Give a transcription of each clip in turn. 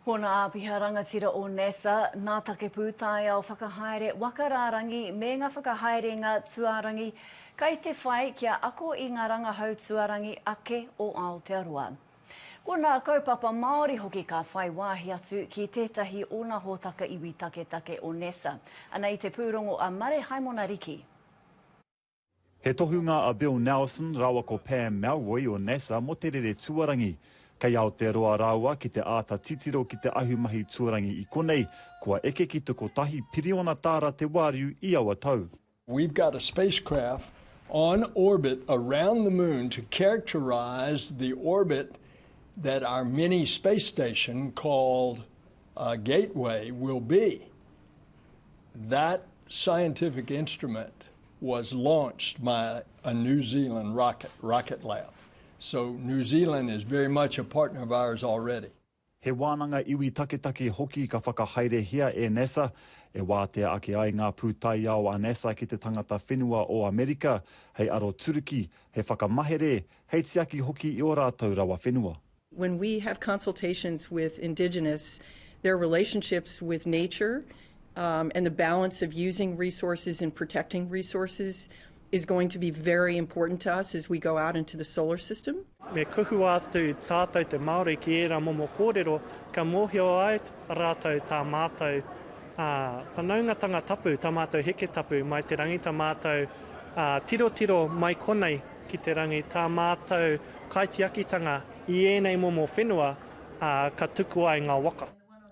Ko ngā āpiha rangatira o NASA, ngā take pūtaiao whakahaere waka rārangi me ngā whakahaerenga tuārangi kai te whai kia ako i ngā rangahau tuārangi ake o Aotearoa. Ko ngā kaupapa Māori hoki ka whai wāhi atu ki tētahi o ngā hōtaka iwi taketake o NASA, ana i te pūrongo a Mare Haimona Riki. He tohunga a Bill Nelson rāua ko Pam Melroy o NASA mō te rere tuarangi. Kei Aotearoa rāua ki te āta titiro ki te ahumahi tuarangi i konei, kua eke ki te kotahi piriona tāra te wāriu i aua tau. We've got a spacecraft on orbit around the moon to characterise the orbit that our mini space station called Gateway will be. That scientific instrument was launched by a New Zealand rocket, Rocket Lab. So New Zealand is very much a partner of ours already. He wānanga iwi taketake hoki ka whakahaerehia e NASA, e wātea ake ai ngā pūtaiao a NASA ki te tangata whenua o Amerika, hei aroturuki, hei whakamahere, hei tiaki hoki i ō rātou rawa whenua. When we have consultations with Indigenous, their relationships with nature um, and the balance of using resources and protecting resources is going to be very important to us as we go out into the solar system. Me kuhua atu tātou te Māori ki ērā momo kōrero, ka mōhio ai rātou tā mātou ā, whanaungatanga tapu, tā mātou heke tapu mai te rangi, tā mātou ā, tirotiro mai konei ki te rangi tā mātou kaitiakitanga i ēnei momo whenua, ā, ka tuku ai ngā waka.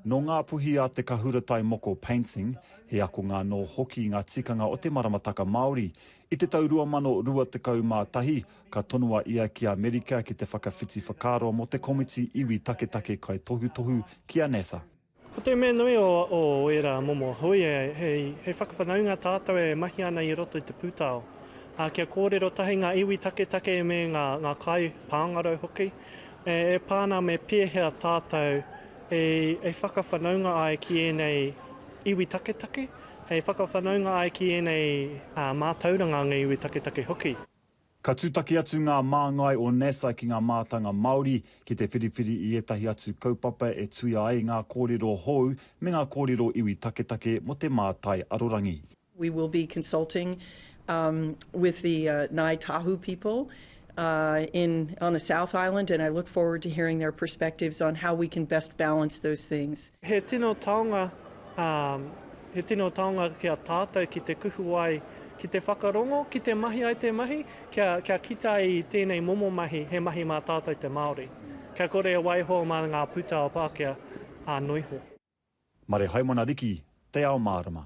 Nō Ngā Puhi a Te Kahuratai Moko Painting, he akonga anō hoki ngā tikanga o te maramataka Māori. I te tau 2021, ka tonoa ia ki Amerika ki te whakawhiti whakaaro mō te komiti iwi taketake kaitohutohu ki a NASA. Ko te mea nui o ērā momo hui, hei whakawhanaunga tātou e mahi ana i roto i te pūtao. Ā, kia kōrero tahi ngā iwi taketake me ngā kai pāngarau hoki, e pā ana me pēhea tātou e whakawhanaunga ai ki ēnei iwi taketake, e whakawhanaunga ai ki ēnei mātauranga a ngā iwi taketake hoki. Ka tūtaki atu ngā māngai o NASA ki ngā mātanga Māori ki te whiriwhiri i ētahi atu kaupapa e tuia ai ngā kōrero hou me ngā kōrero iwi taketake mō te mātai arorangi. We will be consulting with the Ngāi Tahu people on the South Island and I look forward to hearing their perspectives on how we can best balance those things. He tino taonga He tino taonga ki a tātou ki te kuhu ai, ki te whakarongo, ki te mahi ai te mahi, kia, kia kite ai i tēnei momo mahi, he mahi mā tātou te Māori. Kia kore e waiho mā ngā pūtao Pākehā, ā, noiho. Marehaimana Riki, Te Ao Mārama.